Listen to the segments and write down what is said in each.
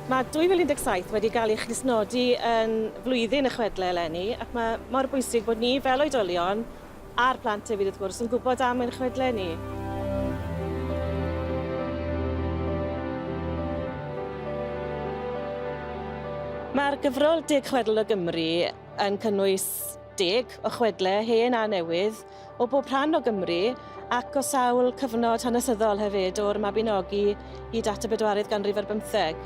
Mae 2017 wedi cael ei chnysnodi yn flwyddyn y chwedle eleni ac mae mor bwysig bod ni fel oedolion A'r plant hefyd wrth gwrs yn gwybod am ein chwedle ni. Mae'r gyfrol Deg Chwedl o Gymru yn cynnwys deg o chwedle hen a newydd o bob rhan o Gymru ac o sawl cyfnod hanesyddol hefyd, o'r Mabinogi hyd at y bedwaredd ganrif ar bymtheg.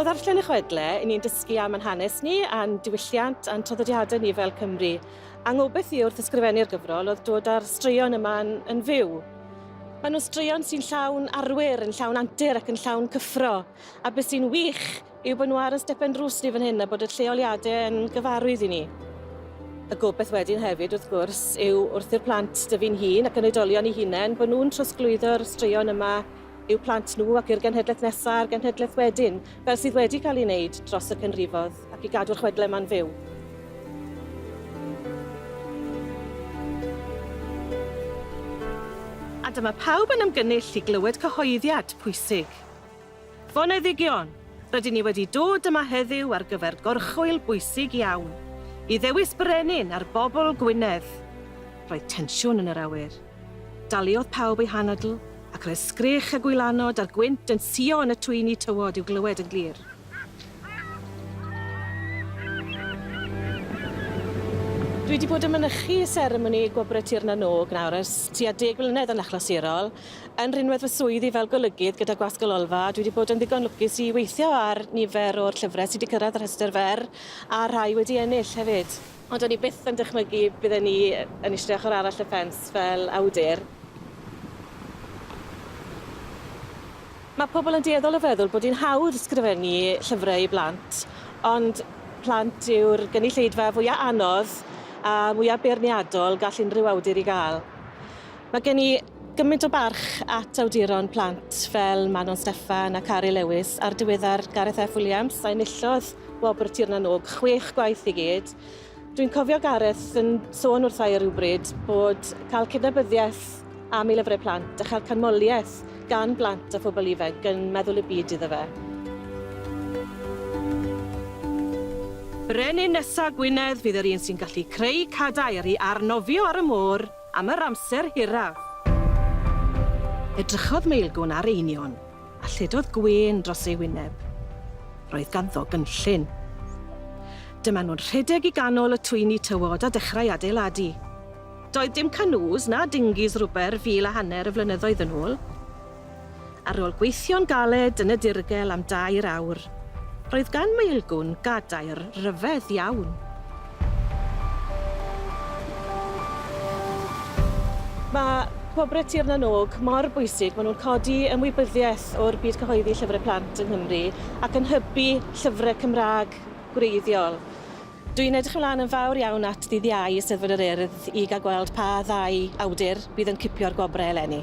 O ddarllen y chwedle, i ni'n dysgu am yn hanes ni, a'n diwylliant, a'n traddodiadau ni fel Cymru. Angobaith i wrth ysgrifennu'r gyfrol oedd dod â'r straeon yma yn, yn fyw. Maen nhw'n straeon sy'n llawn arwyr, yn llawn antur ac yn llawn cyffro. A beth sy'n wych yw bod nhw ar y stepen drws ni fan hyn a bod y lleoliadau yn gyfarwydd i ni. Y gobaith wedyn hefyd, wrth gwrs, yw wrth i'r plant dy fi'n hun ac yn oedolion i hunain, bod nhw'n trosglwyddo'r straeon yma i'w plant nhw ac i'r genhedlaeth nesaf a'r genhedlaeth wedyn, fel sydd wedi cael ei wneud dros y canrifodd, ac i gadw'r chwedlau yma'n fyw. A dyma pawb yn ymgynnull i glywed cyhoeddiad pwysig. Foneddigion, rydyn ni wedi dod yma heddiw ar gyfer gorchwyl bwysig iawn, i ddewis brenin ar bobl Gwynedd. Roedd tensiwn yn yr awyr. Daliodd pawb eu hanadl, ac roedd sgreech a gwylanod a'r gwynt yn suo yn y twyni tywod i'w glywed yn glir. Dwi wedi bod yn mynychu seremoni Gwobrau Tir na nOg nawr ers tua deg mlynedd yn achlysurol, Yn rhinwedd fy swydd i fel golygydd gyda Gwasg y Lolfa, dwi wedi bod yn ddigon lwcus i weithio ar nifer o'r llyfrau sydd wedi cyrraedd y rhestr fer, a rhai wedi ennill hefyd. Ond o'n i byth yn dychmygu bydden i yn eistedd ochr arall y ffens fel awdur. Mae pobl yn dueddol o feddwl bod hi'n hawdd sgrifennu llyfrau i blant, ond plant yw'r gynulleidfa fwyaf anodd a mwyaf beirniadol gall unrhyw awdur ei gael. Mae gen i Gymaint o barch at awduron plant fel Manon Steffan a Cari Lewis a'r diweddar Gareth F Williams a enillodd wobr Tir na nÓg chwech gwaith i gyd. Dwi'n cofio Gareth yn sôn wrtha i rywbryd bod cael cydnabyddiaeth am ei lyfrau plant a chael canmoliaeth gan blant a phobl ifanc yn meddwl y byd iddo fe. Brenin nesa Gwynedd fydd yr un sy'n gallu creu cadair i arnofio ar y môr. am yr amser hiraf. Edrychodd Maelgwn ar Einion a lledodd gwên dros ei wyneb. Roedd ganddo gynllun. Dyma nhw'n rhedeg i ganol y twyni tywod a dechrau adeiladu. Doedd dim canŵs na dingis rwber fil a hanner o flynyddoedd yn ôl, Ar ôl gweithio'n galed yn y dirgel am dair awr, roedd gan Maelgwn gadair ryfedd iawn. Mae Gwobrau Tir na nÓg mor bwysig, maen nhw'n codi ymwybyddiaeth o'r byd cyhoeddi llyfrau plant yng Nghymru ac yn hybu llyfrau Cymraeg gwreiddiol. Dw i'n edrych ymlaen yn fawr iawn at ddydd Iau i Eisteddfod yr Urdd i gael gweld pa ddau awdur fydd yn cipio'r gwobrau eleni.